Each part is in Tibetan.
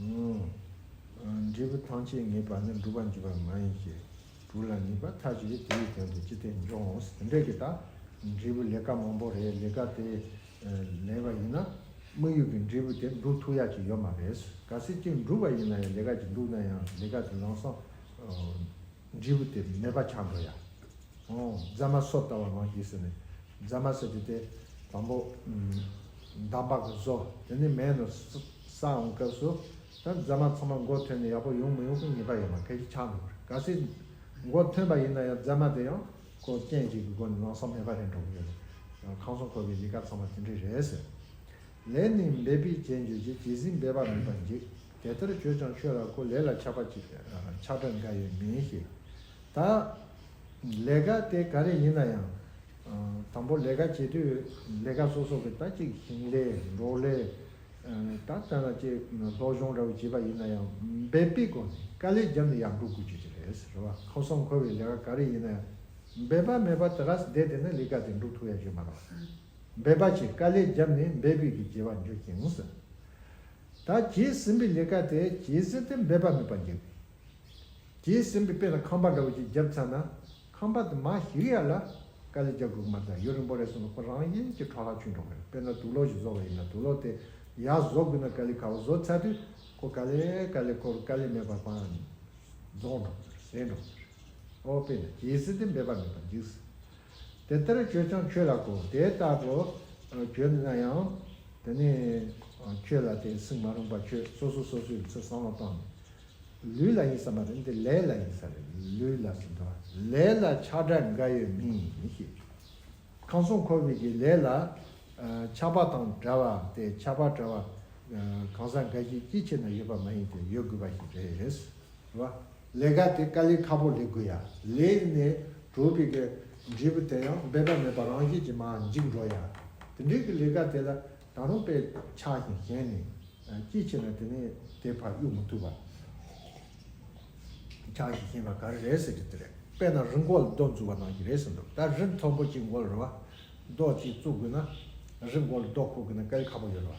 ངོ། འབྲས་བུ་ཐམས་ཅད་ངེས་པར་ནི་འགྲུབ་པར་འགྱུར་བ་མ་ཡིན་གྱི། དྲུག་ལ་ངེས་པ་མཐའ་བཞི་རེ་དེའི་དོན་དུ་ཅི་སྟེ་འཇོག་ངོ། དེ་འདྲ་གི་དང། འབྲས་བུ་ལས་ཀ་མང་པོ་རེ་ལས་ཀ་དེ་ལས་པ་ཡིན་ན། དམིགས་ཡུལ་གྱི་འབྲས་བུ་དེ་འགྲུབ་ཐུབ་ཡག་ཅིག་ཡོད་མ་རེད། གལ་སྲིད་ཅིག་འགྲུབ་པ་ཡིན་ན་ཡང་ལས་ཀ་ཅིག་འདུག་ན་ཡང་ལས་ཀ་དེ་ལངས་སོང། འབྲས་བུ་དེ་མེད་པ་ཆགས་འགྲོ་ཡ། ཨོ། རྫ་མ་སོ་བལྟ་བ་མང་གི་ཟེར་ནས། རྫ་མ་སོ་དེ་སྟེ། དང་པོ། འདམ་བག་གི་སོ་དེ་ནི་མས་ནོར་ས་འོང་སྐབས་སུ། ད་རྫ་མ་ཚང་མ་མགོ་ཐོན་ནས་ཡག་པོ་ཡོང་མི་ཡོང་གི་ངེས་པ་ཡོད་མ་ཕལ་གྱི་ཆགས་འགྲོ་གི་རེད་ག་སྲིད། མགོ་ཐོན་པ་ཡིན་ན་ཡང་རྫ་མ་དེ་ཡང། ཁོ་རྐྱེན་གཅིག་གི་སྒོ་ནས་ལངས་ས་མེད་པ་རེད་འགྲོ་གི་ཡོད་རེད། ཁང་སོང་ཁོ་གི་ཡི་ག་ཚང་མ་དེ་འདྲས་རེད་ཟེར། ལས་ནི་འབད་པས་བྱས་འགྱུར་གྱི་ཇི་སྲིད་འབད་པ་མེད་པར་འཇིག་དེ་ལྟར་བྱོས་ཀྱང་ཆོས་ལ་གོ་ལས་ལ་ཆགས་པ་ཅིག་ཆགས་པས་འགའ་ཡོད་མིན་ཞིག་དང། ལས་ཀ་དེ་ག་རེ་ཡིན་ན་ཡང། དང་པོ་ལས་ཀ་བྱེད་དུས་ལས་ཀ་སོ་སོ་གི་ད་ཅིག་ཞིང་ལས་འབྲོག་ལས། ད་ལྟ་ན་ཅིག་སློབ་སྦྱོང་འདྲ་བོ་བྱེད་པ་ཡིན་ན་ཡང་འབད་པས་གོ་ནས་དཀའ་ལས་བརྒྱབ་ནས་ཡག་འགྲོ་དགོས་ཀྱི་རེད་ཟེར་བ་ཁ་གསང་འཁོར་བའི་ལས་ཀ་ག་རེ་ཡིན་ན་ཡང་འབད་པ་མེད་པར་དེ་ག་སྲིད་བསྡད་དེ་ན་ལས་ཀ་དེ་འགྲུབ་ཐུབ་ཡག་ཤོས་མ་རེད། འབད་པ་ཆེ་དཀའ་ལས་བརྒྱབ་ནས་འབད་དགོས་ཀྱི་བྱེད་པར་འགྱུར་ཅིང། ད་བྱས་ཟིན་པའི་ལས་ཀ་དེ་བྱས་ཟིན་དུ་འབད་པ་མེད་པར་འགྱུར། བྱས་ཟིན་པའི་དཔེ་ན་ཁང་པ་འདྲ་བོ་ཅིག་བརྒྱབ་ཚར་ན་ཁང་པ་དེ་མ་ཞིག་ཡར་ལ་དཀའ་ལས་རྒྱག་དགོས་ཀྱི་མ་རེད་ད་ཡུན་རིང་པོ་རེ་སོང་ན་ཁོ་རང་དབྱིན་གྱི་ཁྲག་ལྷག་ཆུ་འགྲོ་གི་རེད་དཔེ་ན་དུག་ལོག་ཞིག་བཟོ་བ་ཡིན་ན་དུག་ལོག་དེ་ཡར་བཟོ་དགོས་ན་དཀའ་ལས་ཁ་བོ་བཟོ་ཚར་དུས་ཁོ་དཀའ་ལས་དཀའ་ལས་ཁོར་དཀའ་ལས་མེད་པར་པང་རྫོགས་འགྲོ་གི་རེད་ཟས་འགྲོ་གི་རེད། ཨོ་དཔེ་ན་བྱས་ཟིན་དུ་འབད་པ་མེད་པར་འགྱུར། དེ་ལྟར་བྱོས་ཀྱང་ཁྱོད་ལ་གོ། དེ་ལྟ་བུ་བྱོས་ན་ཡང་དེ་ནི་ཁྱོད་ལ་དེ་སྲིང་མ་རུངས་པ་བྱོས་སོ་སོ་སོ་སོའི་མཚོད་བསམ་བློ་བཏང་ནས། ལུས་ལ་ཡིན་ས་མ་རེད་འདི་ལས་ལ་ཡིན་ས་རེད་ལུས་ལ་ཟིན་ཏོ། ལས་ལ་ཆགས་སྒྲ་འགའ་ཡོད་མིན་ཞེས་བྱ། ཁང་སྲུང་འཁོར་བུས་ཀྱི་ལས་ལ། ཆགས་པ་དང་འདྲ་བ་སྟེ་ཆགས་པ་འདྲ་བ། གང་ཟག་འགའ་ཞིག་ཅིའི་ཕྱིར་ན་ཡོད་པ་མ་ཡིན་ཏེ་ཡོད་དགོས་པ་ཞིག་རེད། ལས་ཀ་དེ་དཀའ་ལས་ཁག་པོ་ལས་དགོས་ཡ་ལས་ནས་གྲོ་བི་གའི་འབྲས་བུ་དེ་ཡང་འབད་པ་མེད་པར་རང་བཞིན་གྱིས་མ་འཇིག་འགྲོ་ཡ་དེ་འདྲའི་གི་ལས་ཀ་དེ་ལ་ད་རུང་དཔེ་ཆགས་ཤིང་གཞན་ནས་ཅི་བྱས་ན་དེ་ནས་དེ་ཕར་གཡུག་མི་ཐུབ་པ་ཆགས་ཤིང་ཤིང་ལ་ག་རེ་རེད་ཟེར་གི་དེ་རེད་དཔེ་ན་རི་མགོ་ལ་རྡོ་འཛུགས་པ་ནང་གི་རེད་ཟེར་འདུག་ད་རི་མཐོན་པོ་གཅིག་མགོ་ལ་རི་བ་རྡོ་གཅིག་བཙུགས་དགོས་ན་རི་མགོ་ལ་རྡོ་ཁུར་དགོས་ན་དཀའ་ལས་ཁག་པོ་ཡོད་རེད་བ།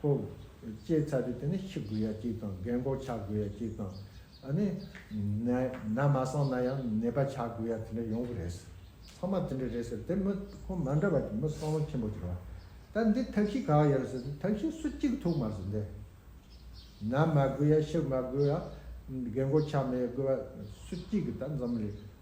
ཀོ། ལྕེའི་ཚ་དྲོད་དེ་ནི་ཤི་དགོས་ཡ་གཅིག་དང་རྒན་གོག་ཆགས་དགོས་ཡ་གཅིག་དང། ཨ་ནི། ན་མ་སངས་ན་ཡང་ནད་པ་ཆགས་དགོས་ཡ་དེ་འདྲ་ཡོང་གི་རེད་ཟེར། ཚང་མ་དེ་འདྲ་རེད་ཟེར་དེར་མི་ཁོང་མ་འདྲ་བ་དེ་མི་སྲང་ལོ་ཆེན་པོ་དེར་བ། ད་འདི་ཐབས་ཤེས་ག་ཡོད་ཟེར་དེ་ཐབས་ཤེས་སུ་གཅིག་ཐུག་མ་ཟེར་འདི། ན་མ་དགོས་ཡ་ཤི་མ་དགོས་ཡ། རྒན་གོག་ཆགས་མི་ཡ་དགོས་བ་སུ་གཅིག་གི་ད་འཛོམས་རེད།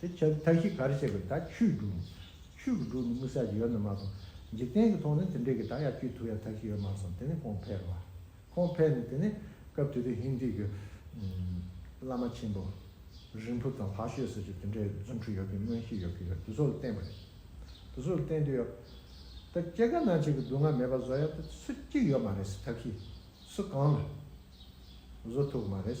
དེ་ཆོས་མཐའ་བཞི་གར་བྱེད་པའི་དག་ཆོས་དྲུག་ཡིན། ཆོས་ཀྱི་དྲུག་ནི་དམིགས་བསལ་གྱི་ཡོད་ན་མ་གཏོགས། འཇིག་རྟེན་གྱི་ཐོག་ནས་དེ་འདྲའི་གི་དག་ཡ་ཅུས་ཐུབ་ཡ་མཐའ་བཞི་ཡོད་མ་སོང་དེ་ནི་ཁོང་ཕལ་བ། ཁོང་ཕལ་ནི་དེ་ནི་སྐབས་དེ་དུས་ཧིན་དྷི་གི། བླ་མ་ཆེན་པོ། རིན་པོ་དང་ལྷ་བཤོས་སོགས་ཀྱིས་དེ་འདྲའི་རྫུན་འཕྲུལ་ཡོད་གི་མངོན་ཤེས་ཡོད་གི་ཡོད་དུས་ཚོད་ལ་བསྟན་པ་རེད། དུས་ཚོད་ལ་བསྟན་དུས་ཡོད། ད་སྐྱེ་རྒ་ན་འཆི་གི་སྡུག་བསྔལ་མེད་པར་བཟོ་ཡ་དུས་ཚོད་ཅིག་ཡོད་མ་རེད་སི་ཐ་བཞི། སུ་གང་ལ། བཟོ་ཐུབ་གི་མ་རེད།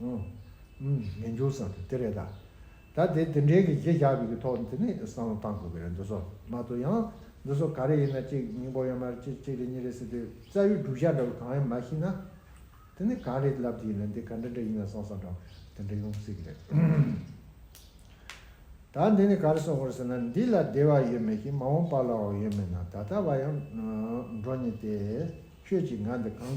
ངན་འགྱུར་བསམ་ཚུལ་དེ་རེད་ད། ད་དེ་དེ་འདྲའི་གི་གཞི་བཞག་པའི་གི་ཐོག་དེ་ནས་བསམ་བློ་གཏང་དགོས་གི་རེད་འདུག་སོ་མ་གཏོགས་ཡང་འདི་ཚོ་ག་རེ་ཡིན་ན་གཅིག་སྙིང་པོ་ཡང་མ་རེད་གཅིག་གཅིག་རེད་གཉིས་རེད་ཟེར་དུས་རྩ་བའི་སྒྲུབ་བྱ་འདྲ་བོ་གང་ཡང་མ་ཤེས་ན། དེ་ནས་གང་རེད་ལབ་ཀྱི་ཡིན་ན་འདི་ག་འདྲ་འདྲ་ཡིན་ན་བསམ་བསམ་དྲག་དེ་འདྲ་ཡོང་སྲིད་གི་རེད། ད་འདི་ནས་ག་རེ་གསུང་དགོས་རེད་ཟེར་ན་འདི་ལ་བདེ་བ་ཡོད་མེད་ཀྱི་མ་འོངས་པ་ལའང་ཡོད་མེད་ན་ད་ལྟ་བ་ཡང་འགྲོ་ཉེ་སྟེ། ཁྱོད་ཀྱིས་ང་འདི་གང།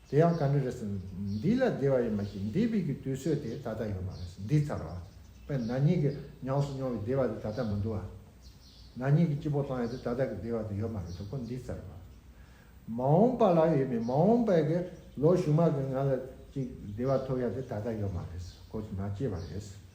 དེ་ཡང་ག་འདྲ་རེད་ཟེར་ན། འདི་ལ་བདེ་བ་ཡོད་མ་ཤེས་འདས་པའི་གི་དུས་ཚོད་དེ་ད་ལྟ་ཡོད་མ་རེད་ཟེར་འདི་ཚར་བ། པས་ན་ཉིད་ཀྱི་ཉམས་སུ་མྱོང་བའི་བདེ་བ་དེ་ད་ལྟ་མི་འདུག་ཨ། ན་ཉིད་ཀྱི་སྐྱིད་པོ་ཐང་ཡོད་དེ་ད་ལྟ་གི་བདེ་བ་དེ་ཡོད་མ་རེད་དོ་ཁོ་འདི་ཚར་བ། མ་འོངས་པ་ལ་ཡོད་པའི་མ་འོངས་པའི་གི་ལོ་གཞུག་མ་གི་ང་ལ་ཅིག་བདེ་བ་ཐོབ་ཡ་དེ་ད་ལྟ་ཡོད་མ་རེད་ཟེར་ཁོ་ཚོ་ན་སྐྱེས་པ་རེད་ཟེར།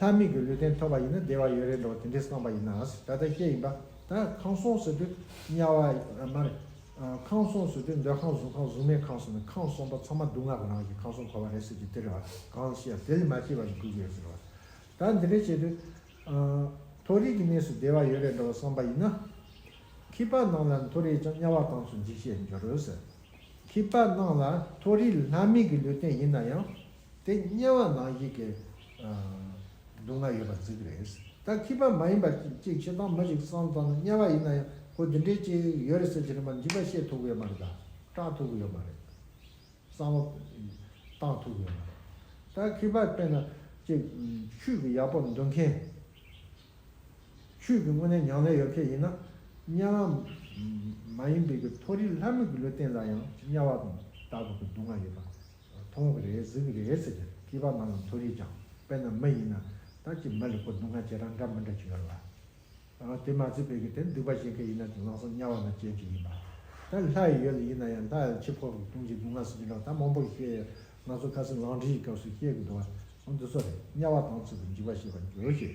ལྷ་མིན་གྱི་ལུས་རྟེན་ཐོབ་པ་ཡིན་ན་བདེ་བ་ཡོད་རེད་འགྲོ་དེ་འདྲས་སྟོན་པ་ཡིན་ན་ད་ལྟ་སྐྱེ་ཡིན་པ་ད་ཁང་སོང་ཟེར་དུས་དམྱལ་བ་ཨ་མ་རེད། ཁང་སོང་ཟེར་དུས་འདོད་ཁང་གཟུགས་ཁང་གཟུགས་མེད་ཁང་ཟེར་ནས་ཁང་སོང་པ་ཚང་མ་སྡུག་བསྔལ་གྱི་ནང་གི་ཁང་སོང་གོ་བ་རེད་ཟེར་དུས་དེ་རེད་བ་གང་ཤེས་ཡ་དེ་ལས་མ་སྐྱེས་པ་ཞིག་དགོས་ཀྱི་ཡོད་ཟེར་བ། ད་འདི་འདྲས་བྱས་དུས། མཐོ་རིས་ཀྱི་གནས་སུ་བདེ་བ་ཡོད་རེད་འགྲོ་བསམ་པ་ཡིན་ན། ཁྱི་པགས་སྣང་ལ་མཐོ་རིས་ཀྱང་དམྱལ་བ་གང་ཚུལ་འཇིགས་བྱེད་འགྱུར་རོ་ཟེར། ཁྱི་པགས་སྣང་ལ་མཐོ་རིས་ལྷ་མིན་གྱི་ལུས་རྟེན་ཡིན་ན་ཡང། དེ་དམྱལ་བ་ནག་ཞིག་གི། སྡུག་བསྔལ་ཡོད་པར་རྫིག་གི་རེད། ད་ཁྱི་པ་མ་ཡིན་པ་ཅིག་ཆེ་མདོག་མ་ཞིག་སང་ཙང་ན་དམྱལ་བ་ཡིན་ན་ཡང་ཁོ་འདི་འདྲའི་ཅིག་ཡོད་རེད་ཟེར་གྱི་རེད་མ་འཇིག་པ་ཤེས་ཐུབ་གི་ཡོད་མ་རེད་ད། སྐྲག་ཐུབ་གི་ཡོད་མ་རེད། གསང་བ། བཏང་ཐུབ་གི་ཡོད་མ་རེད། ད་ཁྱི་པར་བལྟས་ན་ཅིག། ཆུས་ཀྱི་ཡག་པོ་འདོན་མཁན། ཆུས་ཀྱི་དངོས་གནས་མྱང་ལས་ཡོད་མཁན་ཡིན་ན། དམྱལ་བ། མ་ཡིན་པའི་གི་མཐོ་རིས་ལྷ་མོ་གི་ལུས་སྟེང་ལ་ཡང་དམྱལ་བ་དང་དག་གི་སྡུག་བསྔལ་ཡོད་པ་མཐོང་བ་རེད་གཟིགས་པ་རེད་ཟེར་ནས་སྐྱིད་པ་མ་ལ་མཐོ་རིས་ཀྱང་དཔེ་ན་མ་ཡིན་ན་ད་ཅི་མ་ལི་སྐོར་སྡུག་བསྔལ་ཇེ་དྲག་འདྲ་མི་འདྲ་ཅིག་ཡོད་ལ། དེ་མ་ཚད་བོད་ཀྱི་དེར་འདུས་པ་ཞིག་གི་ཡིན་ན་དེ་ལག་སོ་དམྱལ་བ་ན་སྐྱེལ་གྱི་ཡིན་པ། ད་ལྷ་ཡི་ཡུལ་ལ་ཡིན་ན་ཡང་ལྷ་ཡང་འཆི་འཕོ་བའི་ལྟུང་བྱེད་སྡུག་བསྔལ་སུ་ཇི་འདྲ་བ་ད་མང་པོ་ཞིག་ཤེས་ཡོད་ང་ཚོ་ཁ་སེང་ལང་ཁྲིད་ཀྱི་སྐབས་སུ་ཤེས་ཀྱི་འདུག་ཨང་འདི་ཚོ་རེད་དམྱལ་བ་དང་ཚུལ་དུ་འཇིགས་པ་ཞེས་པར་འགྱུར་ཞེས་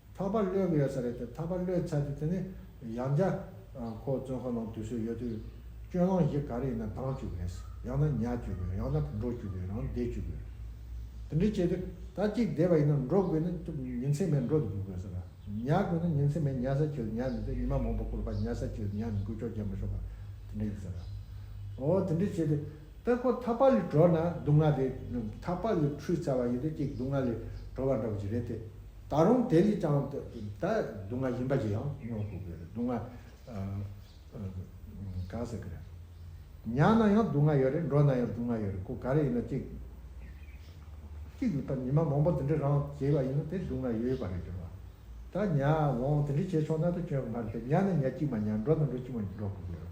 ཐག་པ་གློད་གི་ཡོད་ས་རེད་དེ་ཐག་པ་གློད་ཚར་དུས་དེ་ནི་ཡང་བརྒྱ་ཁོག་བཙོན་ཁང་ནང་དུད་སོད་ཡོད་དུས། སྐྱོན་ལང་གཞི་ག་རེ་ཡིན་ན་དྭངས་བཅུག་དགོས། ཡང་ན་ཉལ་བཅུག་དགོས་ཡང་ན་འགྲོ་བཅུག་དགོས་རང་བདེ་བཅུག་དགོས། དེ་འདྲས་བྱས་དུས་ད་གཅིག་བདེ་བ་ཡིན་ན་འགྲོ་དགོས་ནི་ཐུབ་ཉིན་མཚན་མེད་འགྲོ་དུ་དགོས་ས་རེད། ཉལ་དགོས་ན་ཉིན་མཚན་མེད་ཉལ་ས་ཁྱོད་ཉལ་མི་འདོད་ཉི་མ་མང་པོ་བསྐུར་བར་ཉལ་ས་ཁྱོད་ཉལ་མི་དགོས་ཅོག་རྒྱབ་མི་ཤོར་བ་དེ་འདྲས་ཡོད་ས་རེད། འོ་དེ་འདྲས་བྱས་དུས་ད་ཁོ་ཐག་པ་ལས་གྲོལ་ན་སྡུག་བསྔལ་རེད། ཐག་པ་ལས་འཁྲུས་ཚར་བ་ཡིན་དུས་གཅིག་སྡུག་བསྔལ་ལས་གྲོལ་བ་འདྲ་བོ་ཞིག་རེད་དེ། ད་རུང་དེ་ལས་ཀྱང་ད་སྡུག་བསྔལ་གཞན་པ་ཞིག་ཡང་མྱོང་དགོས་གི་རེད་སྡུག་བསྔལ་གང་ཟེར་གི་རེད། ཉལ་ན་ཡང་སྡུག་བསྔལ་ཡོད་རེད་འགྲོ་ན་ཡང་སྡུག་བསྔལ་ཡོད་རེད་ཁོ་ག་རེ་ཡིན་ན་གཅིག་གཅིག་ལ་ཉི་མ་མང་པོ་དེ་འདྲ་རང་བྱས་པ་ཡིན་ན་དེ་སྡུག་བསྔལ་ཡོད་པ་རེད་ཟེར་བ། ད་ཉལ་འོང་དེ་འདྲ་བྱས་ཆོག་ན་ད་ཁྱོད་ང་རེད་ད་ཉལ་ན་ཉལ་གཅིག་མ་ཉལ་འགྲོ་ན་འགྲོ་གཅིག་མ་འགྲོ་དགོས་གི་རེད་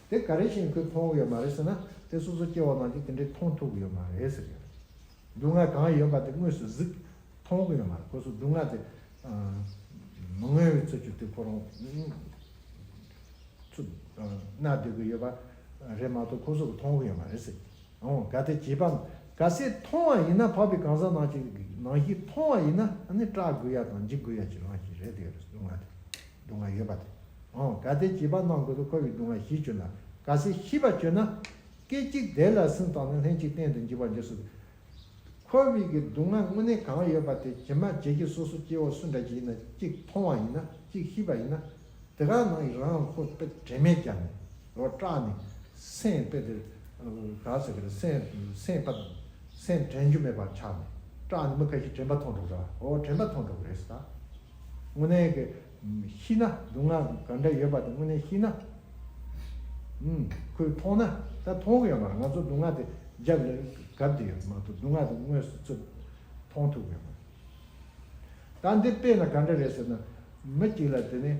དེ་ག་རེ་བཞིན་ཁོས་མཐོང་ཡོད་མ་རེད་ཟེར་ན་དེ་སོ་སོ་སྐྱེ་བོ་རྣམས་ཀྱིས་དེ་འདྲའི་མཐོང་ཐུབ་ཡོད་མ་རེད་ཟེར་གྱི་རེད། སྡུག་བསྔལ་གང་ཡོད་པ་དེ་དངོས་སུ་གཟིགས། མཐོང་གི་ཡོད་མ་རེད་ཁོ་ཚོས་སྡུག་བསྔལ་དེ། མི་མངོན་བའི་ཚུལ་གྱིས་དེ་ཁོ་རང། ཚུར། མནའ་སྡོད་ཀྱི་ཡོད་པ། རེད་མ་གཏོགས་ཁོ་ཚོས་ཀྱི་མཐོང་གི་ཡོད་མ་རེད་ཟེར་གྱི། འོང་ག་དེ་བྱིས་པ། ག་སེ་མཐོང་བ་ཡིན་ན་འཕགས་པའི་གང་ཟག་ནང་གཅིག་ནང་བཞིན་མཐོང་བ་ཡིན་ན་ནི་སྐྲག་དགོས་ཡ་དང་འཇིགས་དགོས་ཡ་གྱི་ལངས་ཀྱི་རེད་དེ་སྡུག་བསྔལ་དེ། སྡུག་བསྔལ་ཡོད་པ་དེ་འོང་ག་དེ་བྱིས་པ་ནང་དགོས་པའི་འཁོར་བའི་སྡུག་བསྔལ་བཞི་བཅུ་ན་ག་སྲིད་ཤི་བ་བཅུ་ན། སྐད་ཅིག་དེ་ལ་སེམས་བཏང་ནས་ལྷན་ཅིག་གཏན་དུ་འཇིག་པར་འགྱུར་སྲིད། འཁོར་བའི་གི་སྡུག་བསྔལ་དངོས་གནས་གང་ཡོད་པ་དེ་ཇི་མ་ཇི་བཞིན་སོ་སོ་སྐྱེ་བོ་སུ་འདྲ་ཞིག་ཡིན་ན་གཅིག་མཐོང་བ་ཡིན་ན་གཅིག་ཤི་བ་ཡིན་ན། དེ་ག་ནང་ཡི་རང་ཁོ་དཔེ་དྲི་མེད་རྒྱབ་ནས་རོ་སྐྲག་ནས། སེམས་དཔེ་དེ་ག་ཟེར་གི་རེད་སེམས་སེམས་དཔའ་སེམས་དྲན་རྒྱུ་མེད་པར་ཆགས་ནས་སྐྲག་ནས་མི་ག་ཤིག་དྲན་པ་མཐོང་གྲོགས་ར་ཨོ་དྲན་པ་མཐོང་གྲོགས་རེད་ས། དངོས་གནས་ཀྱི་ཤི་ན་སྡུག་བསྔལ་ག་འདྲ་ཡོད་པ་དེ་དངོས་གནས་ཤི་ན་ཁོས་མཐོང་ན་ད་མཐོང་གི་ཡོད་མ་རེད་ང་ཚོ་སྡུག་བསྔལ་དེ་རྒྱབ་ལ་གབ་དེ་ཡོད་མ་གཏོགས་སྡུག་བསྔལ་དེ་དངོས་སུ་ཚུར་མཐོང་ཐུབ་ཀྱི་ཡོད་མ་རེད། ད་འདི་དཔེ་ན་ག་འདྲ་རེད་ཟེར་ན། མི་གཅིག་ལ་དེ་ནས་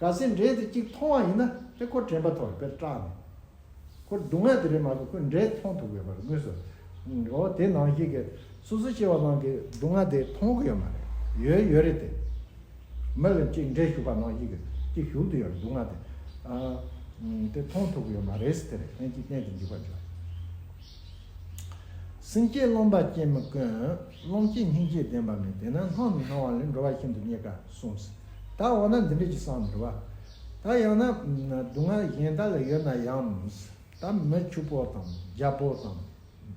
ག་སེ་འབྲས་དེ་གཅིག་མཐོང་བ་ཡིན་ན་དེ་ཁོ་དྲན་པ་ཐོག་དཔེར་སྐྲག་ནས། ཁོ་སྡུག་བསྔལ་དེ་རེད་མ་གཏོགས་ཁོས་འབྲས་མཐོང་ཐུབ་དགོས་པ་རེད་དངོས་སུ། འོ་དེ་ནང་བཞིན་གྱི་སོ་སོ་སྐྱེ་བ་རྣམས་ཀྱི་སྡུག་བསྔལ་དེ་མཐོང་གི་ཡོད་མ་རེད་ཡོད་ཡོད་རེད་དེ། མི་ལ་གཅིག་འབྲས་ཞུགས་པ་ནང་བཞིན་གྱི་གཅིག་བཞུགས་དུ་ཡོད་རེད་སྡུག་བསྔལ་དེ། དེ་མཐོང་ཐུབ་གི་ཡོད་མ་རེད་ཟེར་ཏེ་རེད་ཕན་གྱི་གཏན་དུ་འཇིགས་པར་འགྱུར། སེམས་བསྐྱེད་རློམ་པ་སྐྱེད་མི་དཀོན། རློམ་སྐྱེད་སྙིང་རྗེ་ལྡན་པ་མེད་དེ་ན་སྣང་མི་སྣང་བ་ལས་འགྲོ་བ་ཤིན་ཏུ་རྙེད་དཀའ་གསུངས། ད་འོ་ན་འདི་འདྲས་ཀྱི་སང་འདྲི་བ། ད་ཡང་ན། སྡུག་བསྔལ་གཞན་དག་ལ་ཡོད་ན་ཡང། ད་མི་ཕྱུག་པོ་དང་རྒྱ་པོ་དང།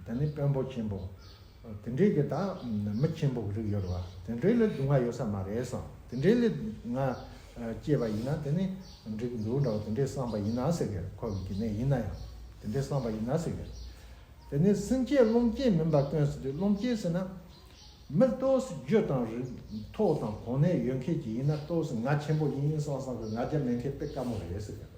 ད་ནི་དཔོན་པོ་ཆེན་པོ། དེ་འདྲའི་གི་དང་མི་ཆེན་པོ་གི་རིགས་ཡོད་རེད་བ། དེ་འདྲའི་ལས་སྡུག་བསྔལ་ཡོད་ས་མ་རེད་སོང། དེ་འདྲའི་ལས་སྡུག་བསྔལ་སྐྱེས་པ་ཡིན་ན་དེ་ནི་འགྲིག་གི་འདུག་འདྲ་བ་དེ་འདྲའི་བསམ་པ་ཡིན་ན་ཟེར་གི་རེད་ཁོ་གི་གི་ནས་ཡིན་ན་ཡང་དེ་འདྲའི་བསམ་པ་ཡིན་ན་ཟེར་གི་རེད། དེ་ནི་སེམས་བསྐྱེད་རློམ་བསྐྱེད་མིན་པ་སྟོན་ཟེར་དུས་རློམ་བསྐྱེད་ཟེར་ན། མི་ལྟོས་སུ་རྒྱུ་དང་རིགས་མཐོ་དང་གོང་ནས་ཡོད་མཁན་གྱི་ཡིན་ན་ལྟོས་སུ་ང་ཆེན་པོ་ཡིན་ཡིན་སང་སང་གི་ང་རྒྱ་མེད་མཁན་དཔེ་དཀའ་མོ་རེད་ཟེར་གི་རེད།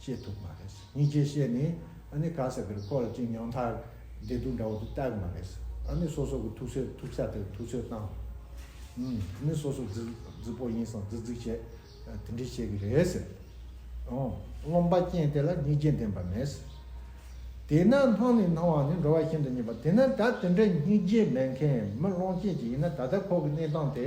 ཤེས་ཐུབ་མ་རེད། གཉིས་ཀྱི་ཤེས་ནས་ཨ་ནི་ག་ས་དེར་སྐོར་ཅིག་ཉང་ཐག་བདེ་སྡུག་འདྲ་བོ་དེ་བལྟ་གི་མ་རེད། ཨ་ནི་སོ་སོ་གི་ཐུགས་སྲས་ཐུགས་ས་དེར་ཐུགས་ཚོད་བཏང། ཨ་ནི་སོ་སོ་རྫི་རྫི་པོ་ཡིན་སང་རྫི་རྫི་བྱེད་དེ་འདྲས་བྱེད་གི་རེད་ཟེར། རློམ་པ་རྐྱེན་དེ་ལ་གཉིས་རྐྱེན་ལྡན་པ་མེད་ཟེར། དེས་ན་སྣང་ནས་སྣང་བ་ནི་འགྲོ་བ་ཤིན་ཏུ་རྙེད་པ་དེས་ན་ད་དེ་འདྲས་གཉིས་རྐྱེན་མེད་མཁན་མི་རློམ་རྐྱེན་གྱི་ཡིན་ན་ད་ལྟ་ཁོག་གི་གནས་སྟངས་དེ་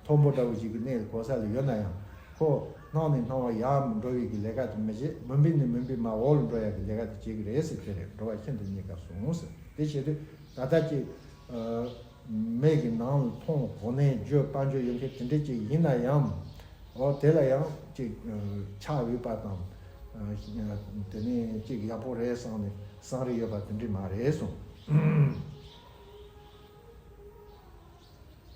མཐོན་པོ་འདྲ་བོ་ཞིག་གི་གནས་གོ་ས་ལ་ཡོད་ན་ཡང། ཁོ། སྣང་ནས་སྣང་བར་ཡང་འགྲོ་བའི་གི་ལས་ཀ་དེ་མི་བྱེད་མུན་པས་ནི་མུན་པའི་མ་འོག་ལ་འགྲོ་ཡ་གི་ལས་ཀ་དེ་བྱེད་གི་རེད་ཟེར་དེ་རེད་འགྲོ་བ་ཤིན་ཏུ་རྙེད་དཀའ་སོང་ཟེར་དེ་བྱེད་དུས་ད་ལྟ་ཀྱི། མེད་གི་ནང་ལ་མཐོང་གོ་ནས་བརྗོད་སྤང་བརྗོད་ཡོད་མཁན་དེ་འདྲས་ཅིག་ཡིན་ན་ཡང། འོ་དེ་ལ་ཡང་ཅིག་ཆགས་འོས་པ་དང། དེ་ནས་ཅིག་ཡག་པོ་རེད་བསམ་ནས་བསམ་རེ་ཡོད་པ་དེ་འདྲས་མ་རེད་སོང།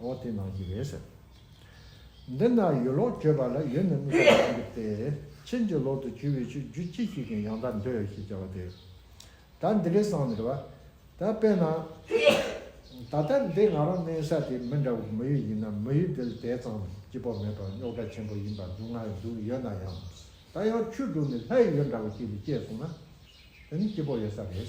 འོ་དེ་ནང་གི་རེད་ཟེར། འདི་ན་ཡོད་ལོག་བརྗོད་པ་ལ་ཡོད་ནི་མི་ཚོ་ལོག་འགྲིག་སྟེ། ཁྱེད་ཀྱི་ལོག་ཏུ་གྱུར་བའི་ཆོས་བརྒྱུད་སྤྱི་གཅིག་གི་ཡང་དག་འདི་ཞེས་བྱ་བ་དེ། ད་འདི་གའི་སང་ནི་རེད་བ། ད་དཔེར་ན། ད་ལྟ་འདི་ང་རང་གནས་ས་དེ་མི་འདྲ་བོ་མི་ཡུལ་ཡིན་ན་མི་ཡུལ་འདི་ལ་དེ་ཙམ་སྐྱིད་པོ་མེད་པར་རྙོག་དྲ་ཆེན་པོ་ཡིན་པར་སྡུག་བསྔལ་འདུག་ཡོད་ན་ཡང། ད་ཡང་ཆུ་འབྲུག་ནི་ལྷའི་ཡུལ་འདྲ་བོ་ཅིག་ལ་སྐྱེས་སོང་ན། དེ་ནི་སྐྱིད་པོ་ཡོད་ས་རེད།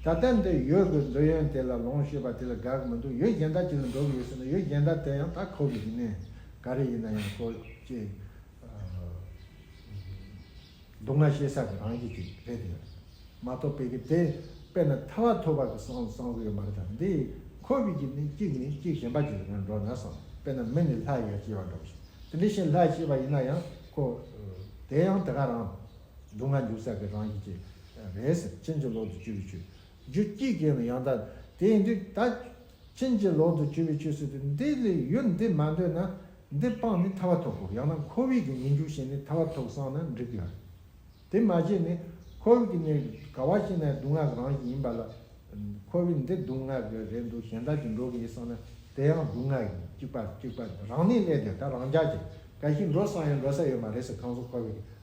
ད་ལྟ་འདི་ཡོད་དགོས་འདོད་ཡོན་དེ་ལ་ལོངས་སྤྱོད་པ་དེ་ལ་དགའ་གི་མི་འདུག་ཡོད་རྒན་དར་དེ་ལ་འགྲོ་གི་ཡོད་ཟེར་ན་ཡོད་རྒན་དར་དེ་ཡང་ད་ཁོ་གི་ཡིན་ནས་ག་རེ་ཡིན་ན་ཡང་ཁོ་ཅེས་སྡུག་བསྔལ་ཤེས་ས་གི་རང་བཞིན་ཅིག་རེད་དེ་ཡོད་མ་གཏོགས་དཔེ་གི་དེ་དཔེ་ན་ཐ་བ་ཐོ་བ་གི་སང་གསང་གི་ཡོད་མ་རེད་ད་འདི་ཁོ་གི་གཅིག་ནི་གཅིག་ནི་གཅིག་གཞན་པ་གཅིག་རེད་འགྲོ་ན་སང་དཔེ་ན་མི་ནི་ལྷ་ཡར་སྐྱེས་བ་འདྲ་བོ་ཞིག་དེ་འདི་བཞིན་ལྷ་སྐྱེས་པ་ཡིན་ན་ཡང་ཁོ་དེ་ཡང་དེ་ག་རང། སྡུག་བསྔལ་འཇུག་ས་གི་རང་བཞིན་གྱིས། རེས་ཕྱིན་ཅི་ལོག་ཏུ་གཅོད་པའི་ཆོས། རྒྱུ་སྐྱེས་སྐྱེས་ནི་ཡང་དག། དེ་ཡིན་དུས་ད། ཕྱིན་ཅི་ལོག་ཏུ་གཅོད་པའི་ཆོས་ཟེར་དུས་འདི་ལས་ཡུལ་འདི་མ་འདོད་ན། འདི་སྤངས་ནས་ཐར་བ་ཐོབ་བོ་ཡང་ན་ཁོ་བོས་ཀྱི་ཉེས་འཇུག་ཤེས་ནས་ཐར་བ་ཐོབ་བསམ་ན་འགྲིག་ལ། དེ་མ་ཤེས་ནས། ཁོ་བོས་ཀྱི་ནི་ག་བ་ཤེས་ན་སྡུག་བསྔལ་གི་རང་བཞིན་ཡིན་པ་ལ། ཁོ་བོས་འདི་སྡུག་བསྔལ་གི་རེད་འདུག་གཞན་དག་གིས་འགྲོ་གི་ཡིན་བསམ་ན་དེ་ཡང་སྡུག་བསྔལ་ཡིན་གཅིག་པ་གཅིག་པ་རང་གནས་སླད་དེ་ད་རང་ཅག་གིས་ག་ཞིག་འགྲོ་བསམ་ཡང་འགྲོ་ས་ཡོད་མ་རེད་ཟེར་གང་སུ་ཁོ་བོས་ཀྱི་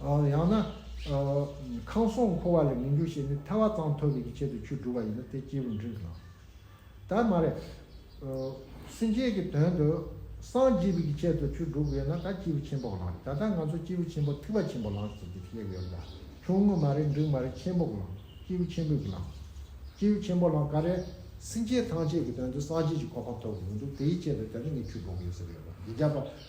ཡང་ན། ཁང་སོང་འཁོར་བ་ལས་མི་འགྱུར་ཞེས་ནི་ཐལ་བ་གཙང་ཐོབ་པའི་ཆེད་དུ་ཆུས་བསྒྲུབས་པ་ཡིན་ན་དེ་སྐྱེས་བུ་འབྲིང་གི་ལམ་དུ་མ་རེད། སེམས་ཅན་གྱི་དོན་དུ་སངས་རྒྱས་པའི་ཆེད་དུ་ཆུས་བསྒྲུབས་པ་ཡིན་ན་ད་སྐྱེས་བུ་ཆེན་པོ་གི་ལམ་རེད། ད་ལྟ་ང་ཚོ་སྐྱེས་བུ་ཆེན་པོ་ཐིགས་པ་ཆེན་པོ་ལམ་ཟེར་གྱི་གླེགས་ཡོད་ལ། ཆུང་ངུ་མ་རེད་འབྲིང་མ་རེད་ཆེན་པོ་གི་ལམ། སྐྱེས་བུ་ཆེན་པོའི་གི་ལམ། སྐྱེས་བུ་ཆེན་པོ་ལམ་ག་རེད། སེམས་ཅན་ཐམས་ཅད་ཀྱི་དོན་དུ་སངས་རྒྱས་ཀྱི་གོ་འཕང་ཐོབ་དགོས་ཀྱི་འདུག་དེའི་ཆེད་དུ་ད་ནི་ངས་ཆུས་བསྒྲུབས་ཡོད་ཟེར་གྱི་ཡོད་པ་འདི་རྒྱབ་པ།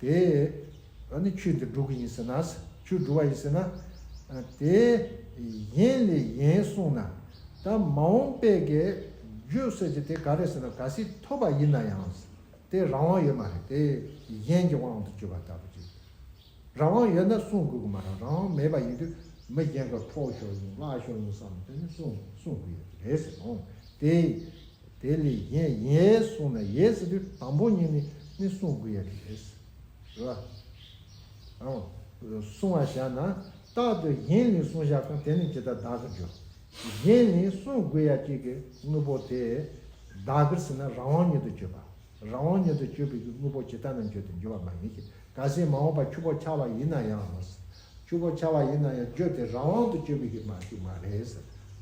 དེས་ནི་ཆོས་འདི་སྒྲུབ་ཀྱི་ཡིན་ཟེར་ན། ཆོས་སྒྲུབ་པ་ཡིན་ཟེར་ན། དེ་གཞན་ལས་གཞན་གསུངས་ན། ད་མ་འོངས་པས་ཀྱི་རྗོད་བྱེད་ཀྱི་དེ་ག་རེ་ཟེར་ན་ག་སྲིད་ཐོབ་པ་ཡིན་ན་ཡང། དེ་རང་དབང་ཡོད་མ་རེད་དེ་གཞན་གྱི་དབང་དུ་གྱུར་པ་ལྟ་བུ་ཅིག། རང་དབང་ཡོད་ན་གསུང་དགོས་ཀྱི་མ་རང་རང་དབང་མེད་པ་ཡིན་དུས་མི་གཞན་གྱི་ཕོག་ཤོར་ཡིན་བརླག་ཤོར་ཡིན་བསམ་ནས་དེ་ནི་གསུང་གསུང་དགོས་ཡོད་ཀྱི་རེད་ཟེར་ནོ། དེ་དེ་ལས་གཞན་ཡས་གསུངས་ན་ཡས་ཟེར་དུས་དང་པོ་གཉིས་ནི་ནི་གསུང་དགོས་ཡས་དེ་རེད། རེད་བ། གསུང་བ་བཞག་ན་རྟག་ཏུ་གཞན་ནི་གསུང་བཞག་གམ་དེ་ནི་ཇི་ལྟར་བདག་གིར་འགྱུར། གཞན་ནི་གསུང་དགོས་ཡ་གཅིག་གི་དངོས་པོ་དེ་བདག་གིར་ཟིན་ན་རང་དབང་ཉིད་དུ་སྤྱོད་པ། རང་དབང་ཉིད་དུ་སྤྱོད་པའི་གི་དངོས་པོ་ཇི་ལྟ་ན་འགྱུར་དུ་འགྱུར་བ་མ་ཡིན་གྱི་ག་སྲིད་མ་འོངས་པ་ཁྱུ་པོ་ཆགས་པ་ཡིན་ན་ཡང། ཆུ་བོ་ཆར་བ་ཡིན་ན་ཡང་རྒྱུ་དེ་རང་དབང་དུ་སྤྱོད་པའི་ཡིག་མ་ཞིག་མ་རེད།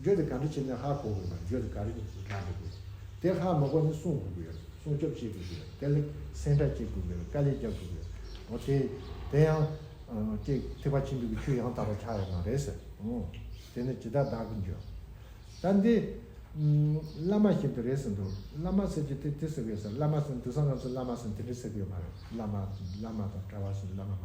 རྒྱུ་དེ་ག་འདྲ་བྱས་ནས་ཧ་གོ་དགོས་པ་རྒྱུ་དེ་ག་རེ་རྒྱག་དགོས་པ་དེ་ཧ་མི་གོ་ནས་སྲུང་དགོས་ཀྱི་ཡོད་སྲུང་སྐྱོབ་བྱེད་དགོས་ཀྱི་ཡོད་དེ་ལས་སེམས་ཁྲལ་བྱེད་དགོས་ཀྱི་ཡོད་དཀའ་ལས་རྒྱག་དགོས་ཀྱི་ཡོད་འོ་དེ་དེ་ཡང། ཅེས་ཐིགས་པ་ཆེན་པོའི་གི་ཆུ་ཡང་དག་པར་ཆགས་ཡོད་མ་རེད། འོ། དེ་ནི་ཇི་ལྟར་བདག་གིས་འཇོན། ད་འདི། བླ་མ་བཞིན་དུ་རེད་ཟེར་འདུག་བླ་མ་ཟེར་གྱི་དེ་དེ་ཟེར་གི་ཡོད་ཟེར་བླ་མ་ཟེར་ནས་དུས་སང་ང་ཚོ་བླ་མ་ཟེར་ནས་དེ་འདྲ་ཟེར་གི་ཡོད་མ་རེད་བླ་མ་བླ་མ་དང་གྲྭ་བ་ཟེར་ནས་བླ་མ་མ་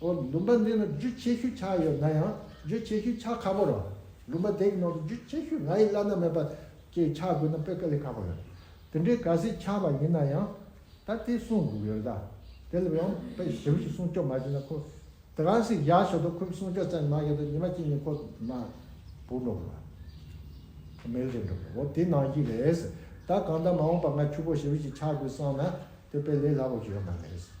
ལུམ་པ་འདི་ལ་རྒྱུ་ཆེ་ཤོས་ཆ་ཡོད་ན་ཡང་རྒྱུ་ཆེ་ཤོས་ཆ་ཁ་པོ་རང་ལུམ་པ་དེ་གི་ནང་དུ་རྒྱུ་ཆེ་ཤོས་ང་ཡི་བླ་ན་མེད་པ་ཀྱི་ཆ་དགོས་ན་དཔེ་ཀ་ལས་ཁག་པོ་ཡོད་དེ་འདྲའི་ག་སྲིད་ཆ་བ་ཡིན་ན་ཡང་ད་དེ་གསུངས་དགོས་ཡོད་ད་དེ་ལ་ཡང་དཔེ་ཞིབ་ཞིག་སྲུང་སྐྱོབ་མ་བྱས་ན་ཁོ་དེ་ག་སྲིད་བཞག་ཆོག་ད་ཁོས་སྲུང་སྐྱོབ་ཙམ་མ་བྱས་ད་ཉི་མ་གཅིག་ཉིན་ཁོ་ན་བུ་འགྲོ་གི་རེད་མལ་ཆེ་འགྲོ་གི་རེད་འོ་དེ་ནང་བཞིན་རེད་ད་གང་ལྟར་མ་འོངས་པ་ང་ཆུ་བོ་ཞིབ་ཞིག་ཆགས་དགོས་བསམ་ན་དེ་དཔེ་ལས་སླ་པོ་ཞིག་ཡོད་མ་རེད།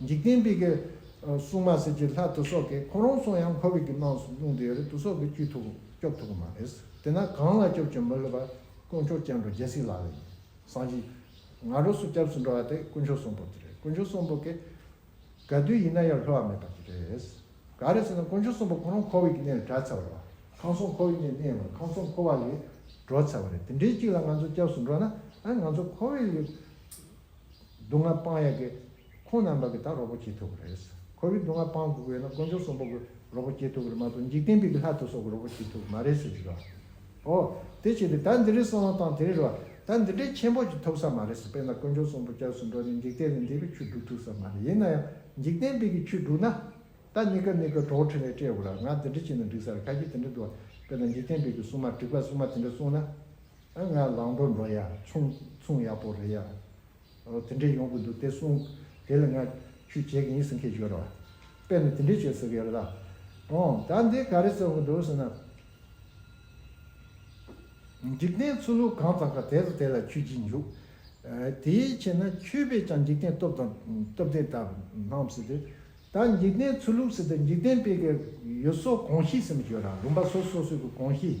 འཇིག་རྟེན་པའི་གི། སྲུང་མ་གསེར་གྱི་ལྷ་དུ་སོགས་ཀྱིས་ཁོང་རང་སྲུང་ཡང་འཁོར་བའི་གི་རྣམས་སུ་སྣང་དུ་ཡོད་རེད་དུ་སོགས་ཀྱིས་བཅོས་ཐུབ་སྐྱོབ་ཐུབ་ཀྱི་མ་རེད། དེས་ན་གང་ལ་སྐྱོབ་ཀྱི་མི་ལུས་པ་དཀོན་མཆོག་སྐྱབས་འགྲོ་རྒྱལ་སྲིད་ལགས་ལ་ཡིན། སངས་རྒྱས། ང་རོ་སུ་སྐྱབས་སུ་འགྲོ་བ་དེ་དཀོན་མཆོག་གསུམ་པོ་གི་རེད་དཀོན་མཆོག་གསུམ་པོ་གི། ག་དུས་ཡིན་ན་ཡང་ལྷོད་བ་མེད་པ་གི་རེད། ག་རེད་ཟེར་ན་དཀོན་མཆོག་གསུམ་པོ་ཁོང་རང་འཁོར་བའི་གི་གནས་ལ་གྲགས་ཚར་བ་ལ། ཁང་སོང་འཁོར་བའི་གནས་གནས་བ་ལ་ཁང་སོང་འཁོར་བ་ལས་འགྲོ་ཚར་བ་རེད་དེ་འདྲའི་གཅིག་ལ་ང་ཚོ་སྐྱབས་སུ་འགྲོ་ན་ང་ཚོ་འཁོར་བའི་ལུས། སྡུག་བསྔལ་སྤང་ཡག་གི། ཁོང་རྣམས་བདག་གིས་ད་རོགས་པོ་བྱེད་ཐུབ་ཀྱི་རེད། ཁོ་བོས་སྡུག་བསྔལ་སྤང་དགོས་ཀྱི་ཡོད་ན་དཀོན་མཆོག་གསུམ་པོ་གིས་རོགས་པོ་བྱེད་ཐུབ་ཀྱི་རེད་མ་གཏོགས་འཇིག་རྟེན་པའི་གི་ལྷ་ཚོགས་སོགས་ཀྱིས་རོགས་པོ་བྱེད་ཐུབ་ཀྱི་མ་རེད་ཟེར་གྱི་རེད། ཨོ། དེ་བྱས་ཏེ་ད་འདི་རིགས་སོང་དང་དེ་རིགས་རོགས་ད་འདི་འདྲའི་ཆེན་པོ་ཅིག་ཐོབ་ས་མ་རེད་ཟེར་དཔེར་ན་དཀོན་མཆོག་གསུམ་པོ་སྐྱབས་སུ་འགྲོ་ནས་འཇིག་རྟེན་ལས་འདས་པའི་ཆུ་བསྒྲུག་ཐུབ་ས་མ་རེད་ཡིན་ན་ཡང་འཇིག་རྟེན་པའི་གི་ཆུ་བསྒྲུག་ན། ད་ནི་ཀ་ནི་ཀ་གྲོགས་འཕྲིན་ལས་སྤྲད་དགོས་ལ་ང་འདི་འདྲ་བྱས་ན་འགྲིག་ས་རེད་ཁ་ཁྱེད་དེ་འདྲ་འདུག་ཨ། དཔེར་ན་འཇིག་རྟེན་པའི་གི་སྲུང་མ་དྲེགས་པ་སྲུང་མ་དེ་འདྲ་སྲུང་ན། ཨ་ང་ལང་པོ་འགྲོ་ཡ་ཆུང་ཆུང་ཡག་པོ་རེད་ཡ། ཨོ་དེ་འདྲས་ཡོང་གི་འདུག་དེ་གསུངས། དེ་ལ་ང་ཁྱོད་བྱེད་ཀྱི་ཡིན་ཟེར་ཁས་བྱོས་རོགས། དཔེར་ན་དེ་འདྲས་བྱོས་ཟེར་གི་ཡོད་རེད་ད། ཨོ་ད་འདི་ག་རེ་བརྩོན་གི་འདུག་ཟེར་ན། འཇིག་རྟེན་ཚུལ་ལུགས་གང་ཙམ་ག་དེ་ཚོ་དེ་ལ་ཁྱོད་ཀྱིས་འཇུག། དེའི་ཕྱིར་ན་ཁྱོད་པས་ཀྱང་འཇིག་རྟེན་སྟོབས་དང་སྟོབས་ལྡན་དག་སྣང་སྲིད་དེ། ད་འཇིག་རྟེན་ཚུལ་ལུགས་སྲིད་དེ་འཇིག་རྟེན་དཔེ་གལ་ཡོད་སོགས་གང་ཤེས་ཟེར་མི་བྱོས་ར་ལུང་པ་སོ་སོ་སོས་གི་གང་ཤེས།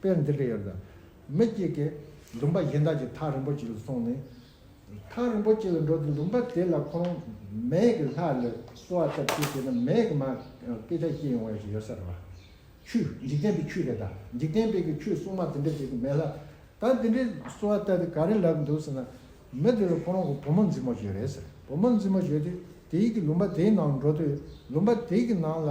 དཔེར་འདི་འདྲ་ཡོད། མི་གཅིག་གིས་ལུང་པ་གཞན་དག་གི་ཐག་རིན་པོ་ཆེ་ལ་སོང་ནས། ཐག་རིན་པོ་ཆེ་ལ་འགྲོ་དུས་ལུང་པ་དེ་ལ་ཁོང་རང་མེད་ཀྱི་ལྷ་ལ་གསོལ་བ་བཏབ་ཅེས་བྱས་ན་མེད་ཀྱི་མ་སྐད་ཆ་བཤད་ཡོང་བ་ཞིག་ཡོད་ས་རེད། ཆུ། འཇིག་རྟེན་པའི་ཆུ་རེད་ད། འཇིག་རྟེན་པའི་གི་ཆུ་སྲུང་མ་དེ་འདྲ་ཞིག་གི་མེད་ལ། ད་དེ་འདྲའི་གསོལ་བ་བཏབ་ཏེ་ག་རེ་ལབ་འདུག་ཟེར་ན། མི་དེ་ལ་ཁོང་རང་གི་བུ་མོ་འཛིན་མོ་ཞིག་རེད་ཟེར་བུ་མོ་འཛིན་མོ་ཞིག་དེ་དེའི་གི་ལུང་པ་དེའི་ནང་འགྲོ་དུས་ལུང་པ་དེའི་གི་ནང་ལ།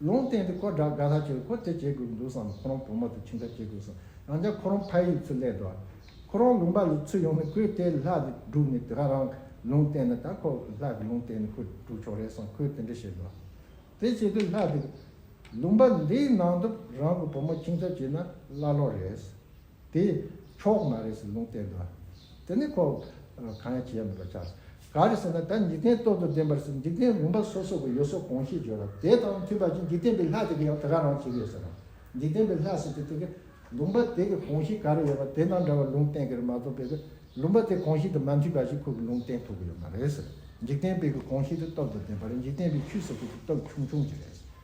ལུང་བསྟན་ཏེ་ཁོ་དགྲ་དགའ་ལྷ་ཁྱོད་ཁོ་དེ་བྱེད་དགོས་འདུག་བསམ་ན་ཁོ་རང་བུ་མོ་དེ་ཁྱིམ་བདག་བྱེད་དགོས་སམ་རང་ཅག་ཁོ་རང་ཕ་ཡུལ་ཚུར་སླེབས་འགྲོ་ཨ། ཁོ་རང་ལུང་པ་ལས་ཚུར་ཡོང་ནས་ཁོའི་ལྟས་ལྷ་དེ་བསྒྲུགས་ནས་དེ་ག་རང་ལུང་བསྟན་ན་ད་ཁོ་ལྷ་གི་ལུང་བསྟན་ནས་ཁོ་བསྒྲུགས་ཆོག་རེད་བསམ་ཁོས་དེ་འདྲ་བྱེད་དགོས་ཨ། དེ་བྱེད་དུས་ལྷ་དེ། ལུང་པ་ལས་ནང་དུ་རང་གི་བུ་མོ་ཁྱིམ་བདག་བྱེད་ན་ཀླ་ཀློ་རེད། དེ་ཕྱོགས་མ་རེད་ཟེར་ལུང་བསྟན་འདུག་དེ་ནི་ཁོ་གང་ཡང་བྱས་མེད་པར་ཆགས། ག་རེ་ཟེར་ན་ད་འཇིག་རྟེན་སྟོབས་དང་ལྡན་པར་ཟེར་འཇིག་རྟེན་རིམ་པ་སོ་སོ་གི་ཡོད་སོ་གང་ཤེས་བརྗོད་ལ་དེ་དང་མཐུན་པ་ཅིག་འཇིག་རྟེན་པའི་ལྷ་དེ་གི་ཡང་དེ་ག་རང་བྱས་ཡོད་ཟེར། འཇིག་རྟེན་པའི་ལྷ་ཟེར་དེ་དེ་གི་ལུང་པ་དེ་གི་གང་ཤེས་ག་རེ་ཡོད་པ་དེ་དང་འདྲ་བ་ལུང་བསྟན་གི་རེད་མ་གཏོགས་པའི་གི་ལུང་པ་དེ་གང་ཤེས་དང་མ་མཐུན་པ་ཞིག་ཁོ་གི་ལུང་བསྟན་ཐུབ་གི་ཡོད་མ་རེད་ཟེར་འཇིག་རྟེན་པའི་གི་གང་ཤེས་དེ་སྟོབས་དང་ལྡན་པ་རེད་འཇིག་རྟེན་པའི་ཆུ་ཟེར་དེ་དེ་སྟོབས་ཆུང་ཆུང་ཅིག་རེད།